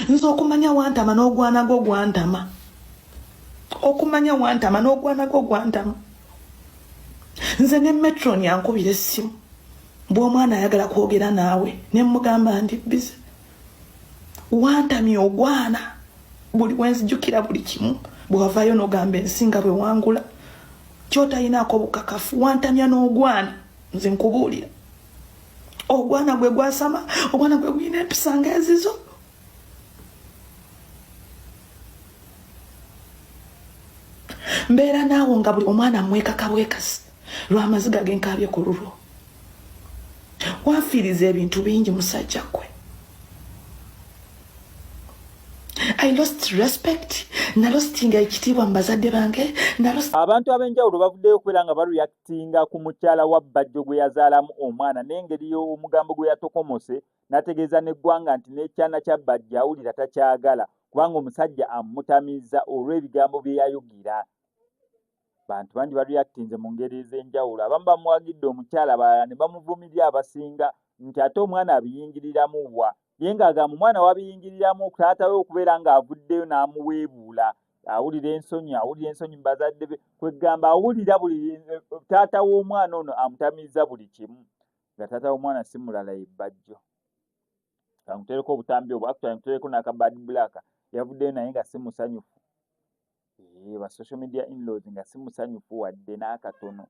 nze okumanya wantama n'ogwana gwo gwantama okumanya wantama n'ogwana gwo gwantama nze ne metron yankubira essimu bw'omwana ayagala kwogera naawe ne mmugamba ndi bize wantamya ogwana buli wenzijukira buli kimu bwewavayo nogamba ensi nga bwewangula kyotayinaako bukakafu wantamya n'ogwana nze nkubuulira ogwana gwe gwasama ogwana gwe guyina empisa nga ezizo mbeera naawo nga buli omwana mwekaka bwekasi lwamaziga genkaabye ku lulwo wafiiriza ebintu bingi musajja gwe i lost respect nalostinga ekitiibwa mu bazadde bange abantu ab'enjawulo bavuddeyo okubeera nga bareactinga ku mukyala wa bbajjo gwe yazaalamu omwana n'engeri omugambo gwe yatokomose n'ategeeza n'eggwanga nti n'ekyana kya bbajjo awulira takyagala kubanga omusajja amutamiza olw'ebigambo bye yayogera bantu bangi bareactinze mu ngeri ez'enjawulo abamu bamuwagidde omukyala balala ne bamuvumirira abasinga nti ate omwana abiyingiriramu wa ye ng'agamba omwana wabiyingiriramu taata we okubeera ng'avuddeyo n'amuweebuula awulira ensonyi awulira ensonyi mu bazadde be kwegamba awulira buli taata w'omwana ono amutamiza buli kimu nga taata w'omwana si mulala ebbajjo kamutereko obutambi obwo actually mutereko n'akabad black yavuddeyo naye nga si musanyufu Eeh ba social media inlaws nga simusanyufu wadde n'akatono.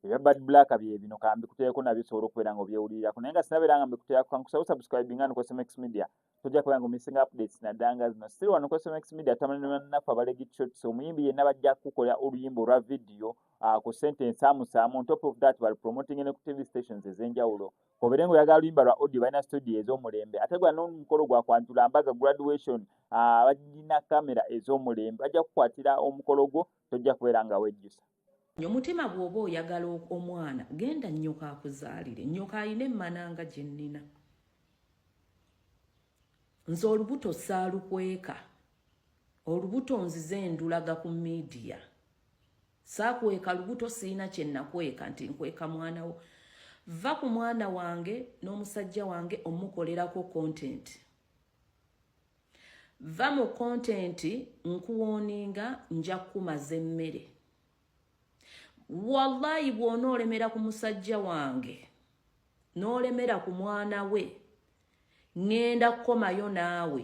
Ebya bad black bye bino kambikuteeko nabyo osobola okubeera nga obyewulirirako naye nga sinabeera nga mbikuteerako kankusaba osubscribinga ano kwesmx media tojja kubeera nga omissinga updates naddala nga zino siri wano kwesmx media tutamani ne bannaffe abalegi shots omuyimbi yenna bajja kukukola oluyimba olwa vidiyo ah, ku sente ensaamusaamu on top of that bali promoting ne ku tv stations ez'enjawulo obere nga oyagala luyimba lwa audio balina studio ez'omulembe ate gwa n'omukolo gwa kwanjula mbaga graduation ah, balina kamera ez'omulembe bajja kukwatira omukolo gwo tojja kubeera nga wejjusa nyo mutima bw'oba oyagala omwana genda nnyoko akuzaalire nnyoko alina emmana nga gye nnina nze olubuto saalukweka olubuto nzize ndulaga ku midiya saakweka lubuto sirina kye nakweka nti nkweka mwana wo va ku mwana wange n'omusajja wange omukolerako kontenti va mu kontenti nkuwooninga nja kukumaza emmere wallayi bw'ona olemera ku musajja wange n'olemera ku mwana we ŋŋenda kukomayo naawe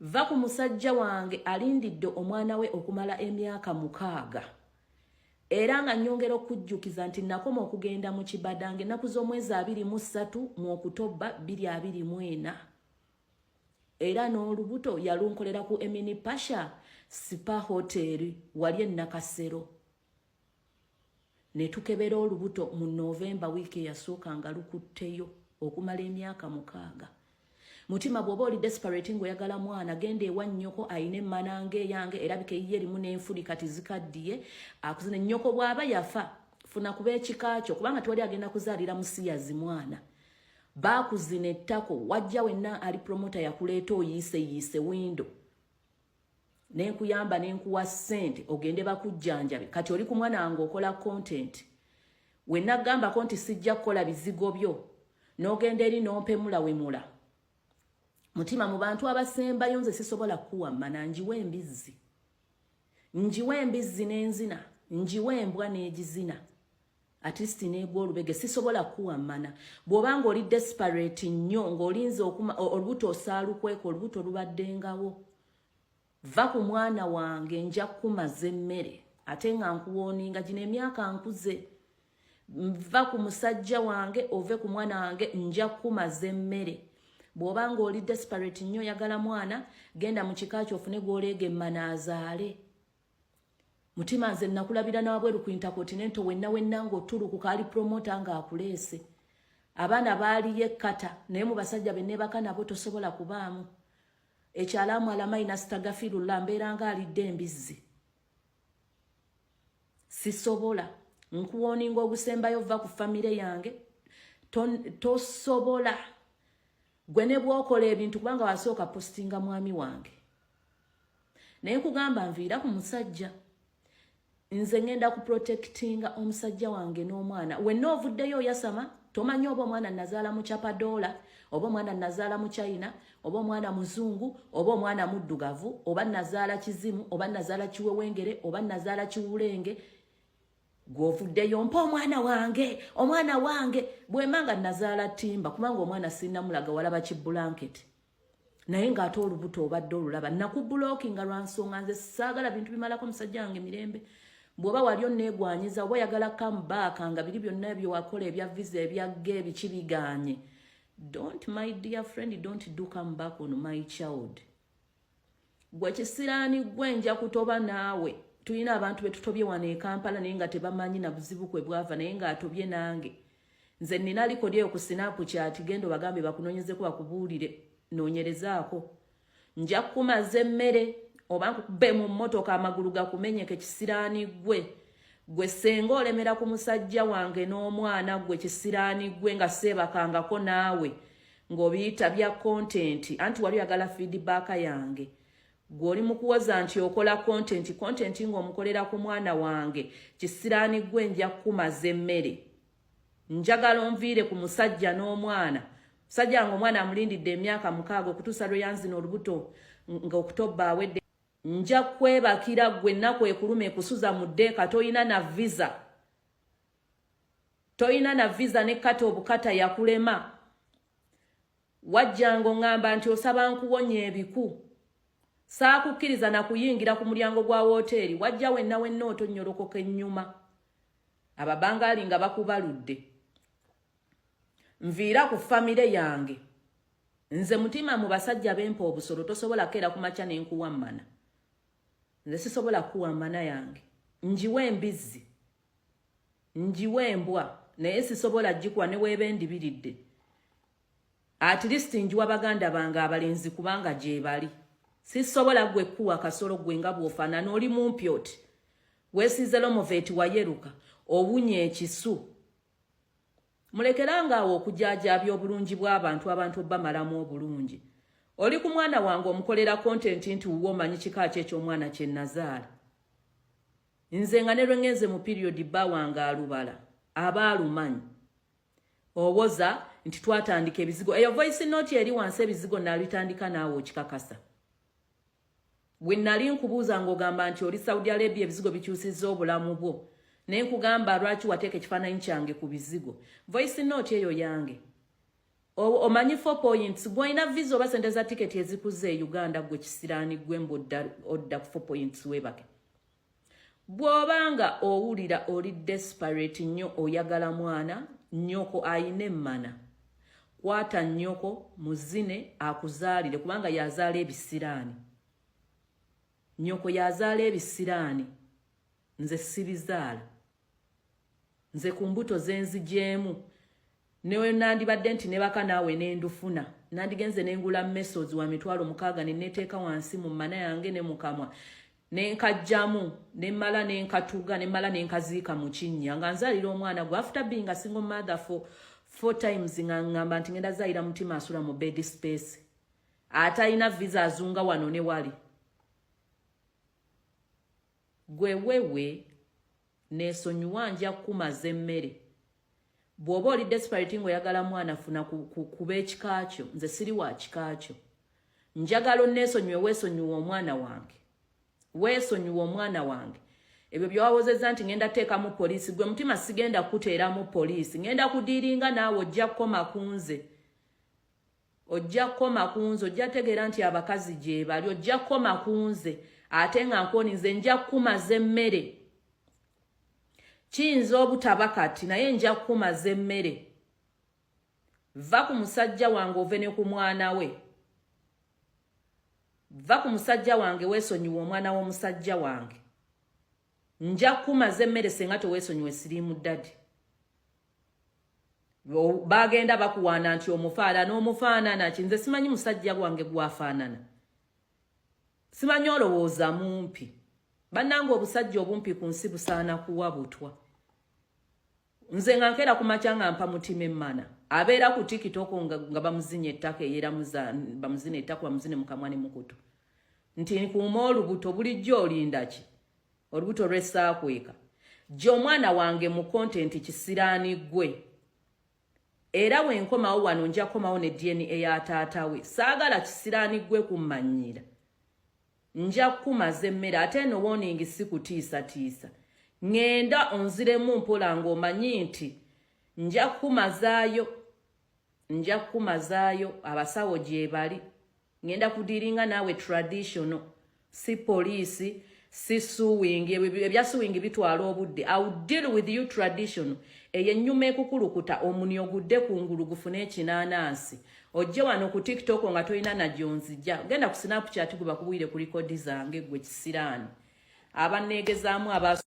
Va ku musajja wange alindidde omwana we okumala emyaka mukaaga era nga nyongera okujjukiza nti nakoma okugenda mu kibadange ennaku z'omwezi abiri mu ssatu mu okutobba bbiri abiri mu ena era n'olubuto yalunkolera ku emini pasha sipa hoteri wali ennakasero ne tukebera olubuto mu novemba wiiki eyasooka nga lukutteyo okumala emyaka mukaaga mutima bw'oba oli desperate ng'oyagala mwana genda ewa nnyoko ayina emmana ng'eyange erabika eyiye erimu n'enfuli kati zikaddiye akuzina nnyoko bw'aba yafa funa kuba ekika kyo kubanga tewali agenda kuzaalira musiyazi mwana baakuzina ettako wajja wenna ali promota yakuleeta oyiise yiise windo nenkuyamba nenkuwa sente ogende bakujjanjabe kati oli kumwana wange okola content wenagambako nti sijja kukola bizigo byo nogenda eri nompemula wemula mutima mu bantu abasembayo nze sisobola kukuwamma nanjiwa embizzi njiwa embizzi nenzina njiwa embwa negizina at least negwa olubege sisobola kuwa mana bwoba nga oli desperate nnyo ng'olinze okuma olubuto osaalukweka olubuto lubaddengawo va ku mwana wange nja kukumaza emmere ate nga nkuwooninga gino emyaka nkuze nva ku musajja wange ove ku mwana wange nja kukumaza emmere bwoba nga oli desperate nnyo oyagala mwana genda mu kika kyo ofune gw'oleega emmana azaale mutima nze nakulabira nawabweru ku intercontinento wenna wenna ngaotulukuka ali promota nga akuleese abaana baaliyo ekkata naye mu basajja benebaka nabo tosobola kubaamu ekyalaamu alamayi nasitagafirullah mbeeranga alidde embizzi sisobola nkuwoninga ogusembayo vva ku famire yange tosobola to gwe ne bwokola ebintu kubanga wasooka postinga mwami wange naye nkugamba nviira ku musajja nze ngenda ku protectinga omusajja wange n'omwana wenna ovuddeyo oyasama tomanyi oba omwana nazaala mu chapadoola oba omwana nazaala mu china oba omwana muzungu oba omwana muddugavu oba nazaala kizimu oba nazaala kiwewengere oba nazaala kiwulenge gwovuddeyo mpa omwana wange omwana wange bwemba nga nazaala timba kubanga omwana sinamulaga walaba ki bulanketi naye ng'ate olubuto obadde olulaba nakubuloki nga lwansonga nze saagala bintu bimalako musajja wange mirembe bwoba wali onneegwanyiza oba oyagala kamubaaka nga biri byonna byewakola ebya visa ebyagga ebiki biganye don't my dear friend don't do come back on my child gwe kisiraani gwe nja kutoba naawe tulina abantu betutobye wano e kampala naye nga tebamanyi na buzibu kwe bwava naye nga atobye nange nze nina likodi eyo ku sinapu kyati genda obagambe bakunonyezeko bakubuulire nonyerezaako nja kukumaza emmere oba nkukube mu mmotoka amagulu gakumenyeke kisiraani gwe gwe senga olemera ku musajja wange n'omwana gwe kisiraani gwe nga seebakangako naawe ng'obiyita bya kontenti anti wali oyagala fidibaaka yange gwe oli mukuwoza nti okola kontenti kontenti ng'omukolera ku mwana wange kisiraani gwe nja kukumaza emmere njagala onviire ku musajja n'omwana musajja wange omwana amulindidde emyaka mukaaga okutuusa lwe yanzina olubuto ng'okutobba awedde nja kwebakira gwe nnaku ekuluma ekusuza mu ddeeka tolina na visa toyina na visa ne kata obukata yakulema wajjanga oŋŋamba nti osaba nkuwonya ebiku saakukkiriza na kuyingira ku mulyango gwa wooteeri wajja wenna wenna otonnyolokoka ennyuma ababangaali nga bakubaludde nviira ku famire yange nze mutima mu basajja bempa obusolo tosobola keera ku makya ne nkuwammana nze sisobola kuwa mana yange njiwa embizzi njiwa embwa naye sisobola gikuwa neweeba endibiridde at least njiwa baganda bange abalenzi kubanga gyebali sisobola gwe kuwa kasolo gwe nga bwofaanana oli mumpi oti wesiize lomoveti wayeruka owunya ekisu mulekeranga awo okujaajaabya obulungi bw'abantu abantu obamalamu obulungi oli ku mwana wange omukolera kontenti nti wuwe omanyi kika ki eky'omwana kye nazaala nze nga ne lwengenze mu piriyodi bba wange alubala aba alumanyi owoza nti twatandika ebizigo eyo voice note eri wansi ebizigo nabitandika naawe okikakasa we nali nkubuuza ng'ogamba nti oli saudi arabia ebizigo bikyusizza obulamu bwo naye nkugamba lwaki wateeka ekifaananyi kyange ku bizigo voice note eyo yange omanyi four points gwolina visa oba sente za tiketi ezikuze e uganda gwe kisiraani gwe mbu odda ku four points webake bw'oba nga owulira oli desperate nnyo oyagala mwana nnyoko ayina emmana kwata nnyoko muzine akuzaalire kubanga yazaala ebisiraani nnyoko yazaala ebisiraani nze sibizaala nze ku mbuto zenzijeemu newenandibadde nti nebaka naawe nendufuna nandigenze nengula mesozi wa mitwalo mukaaga neneteeka wansi mu mana yange ne mukamwa nenkajjamu nemmala nenkatuga nemmala nenkaziika mu kinnya nga nzaalira omwana gwe after being a single mother for four times nga ngamba nti ngenda zaalira mutima asula mu bed space atalina visa azunga wano ne wali Gwe wewe nesonyiwa nja kumaza emmere bwoba oli desperate ngaoyagala mwana funa kuba ekikaakyo nze siri wa kikaakyo njagala onesonyiwe wesonyiwa omwana wange wesonyiwa omwana wange ebyo byowawozeza nti ngenda teekamu poliisi gwe mutima sigenda kuteeramu poliisi ngenda kudiiringa naawe ojja kukoma kunze ojja kukoma ku nze ojja tegeera nti abakazi gyebali ojja kukoma ku nze ate nga nkoni nze nja kukumaza emmere kiyinza obutaba kati naye nja kukumaza emmere va ku musajja wange ove ne ku mwana we va ku musajja wange weesonyiwa omwana w'omusajja wange nja kumaza emmere senga tewesonyiwe siriimu dadi bagenda bakuwaana nti omufaala n'omufaanana ki nze simanyi musajja gwange gwafaanana simanyi olowooza mumpi bannanga obusajja obumpi ku nsi busaana kuwa butwa nze nga nkeera ku makya nga mpa mutima emmana abeera ku tikitoko nga, nga bamuzinya ettaka eyera bamuzina ettaka bamuzine mukamwa ne mukutu nti nkuuma olubuto bulijjo olindaki olubuto lwesaakweka gye omwana wange mu kontenti kisiraani ggwe era wenkomawo wano nja kukomawo ne dna ya taata we saagala kisiraani ggwe kummanyiira nja kukumaza emmere ate eno woningi si kutiisatiisa ŋŋenda onziremu mpola ng'omanyi nti nja kukumazaayo nja kukumazaayo abasawo gyebali ŋŋenda kudiiringa naawe traditional si poliisi si suwingi ebya suwingi bitwala obudde iw deal with you traditional eyo ennyuma ekukulukuta omuni ogudde ku ngulu gufune ekinaanansi ojje wano ku tiktok nga tolina nagyonzija genda ku snapchat gwe bakubwire ku likodi zange gwe kisiraani abaneegezaamu abas